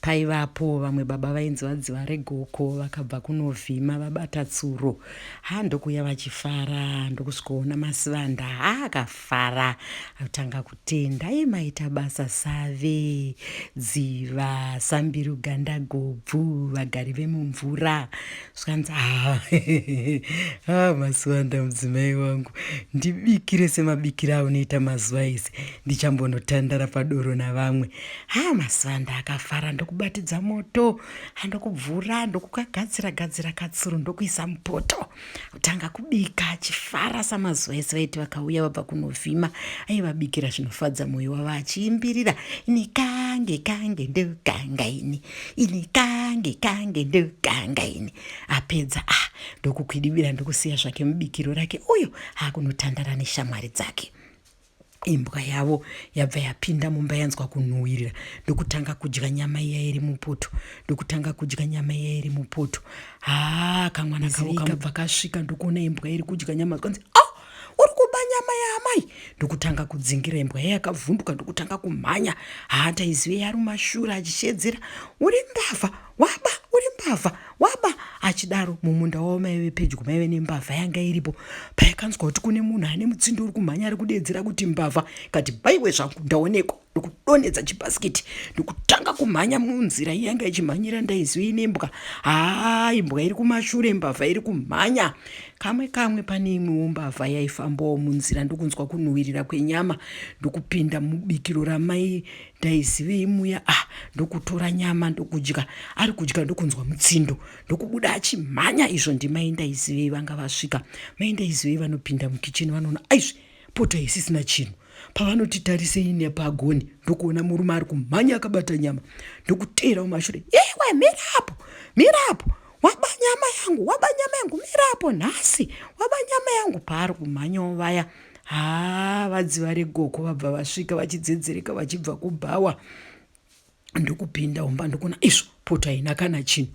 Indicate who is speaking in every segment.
Speaker 1: Paivapo vamwe baba vainzi vadziva regoko vakabva kunovhima vabata tsuro ha ndokuuya vachifara ndokusvikoona masivanda ha akafara atanga kutenda iye maita basa save dziva sambiru ganda gobvu vagari vemumvura zvikanzi ha ah, masivanda mudzimai wangu ndibikire semabikire aunoita mazuva ese ndichambonotandara padoro navamwe Haa mazuva ndakafara ndokubatidza moto andokubvura ndokukagadzira gadzira katsuru ndokuisa mupoto kutanga kubika achifara samazuva ese vaiti vakauya vabva kunovhima aivabikira zvinofadza mwoyo wavo achiimbirira ini kange kange ndokanga ini ini kange kange ndokanga ini apedza a ah, ndokukwidibira ndokusiya zvake mubikiro rake uyo akunotandara neshamwari dzake Imbwa yavo yabva yapinda mumba yanzwa kunhuwirira ndokutanga kudya nyama iya iri mupoto ndokutanga kudya nyama iya iri mupoto haa kamwana kavo kabva kasvika ndokuona imbwa iri kudya nyama zvikanzi oh! uri kuba nyama yaamai ndokutanga kudzingira imbwa iya yakavhunduka ndokutanga kumhanya haa taizive yari mashura achishedzera uri mbavha waba uri mbavha waba achidaro mumunda wavo maive pedyo maive nembavha yanga iripo paikanzwa kuti kune munhu ane mutsindo uri kumhanya ari kudeedzera kuti mbavha kati baiwe zvangu ndaonekwa ndokudonhedza chibhasikiti ndokutanga kumhanya munzira iyanga ichimhanyira ndaiziva ine mbwa haa imbwa iri kumashure mbavha iri kumhanya kamwe kamwe pane imwewo mbavha yaifambawo munzira ndokunzwa kunhuwirira kwenyama ndokupinda mubikiro ramai ndaizivei muya a ah, ndokutora nyama ndokudya ari kudya ndokunzwa mutsindo ndokubuda achimhanya izvo ndimai ndaizivei vanga vasvika mai ndaizivei vanopinda mukicheni vanoona aizvi poto haisisina chinhu pavanoti tarisei nepagoni ndokuona murume ari kumhanya akabata nyama ndokuteera mumashure iwe mirapo mirapo waba nyama yangu waba nyama yangu mirapo nhasi waba nyama yangu paari kumhanyawo vaya haa vadzi vari goko vabva vasvika vachidzedzereka vachibva kubhawa ndokupinda umba ndokuna izvo poto haina kana chinhu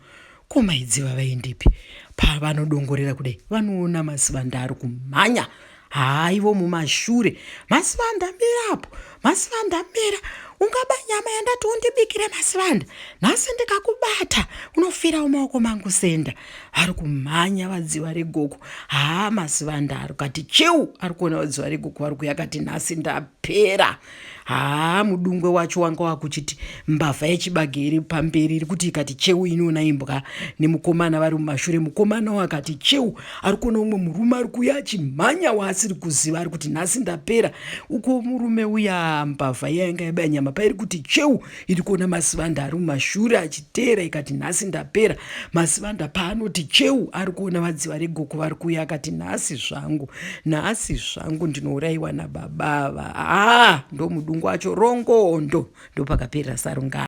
Speaker 1: ko maidzi vavaendepi pavanodongorera kudai vanoona masivanda ari kumhanya haa ivo mumashure masivanda mirapo masivanda mera ungaba nyama yandati undibikire masivanda nhasi ndikakubata unofirawo maoko mangu senda ari kumhanya vadziva regogo haa masivanda ari kati cheu ari kuona vadziva regogo vari kuya kati nhasi ndapera haa mudungwe wacho wanga wakuchiti mbavha yechibage iri pamberi iri kuti ikati cheu inoona imbwa nemukomana vari mumashure mukomana wakati cheu ari kuona umwe murume ari kuuya achimhanya waasiri kuziva ari kuti nhasi ndapera uko murume uya mbavha yainga yabaya nyama pairi kuti cheu iri kuona masivanda ari mumashure achiteera ikati nhasi ndapera masivanda paanoti cheu ari kuona vadziva regoko vari kuuya akati nhasi zvangu nhasi zvangu ndinourayiwa nababa ava haa ah, ndomudungu wacho rongondo ndopakaperera sarungano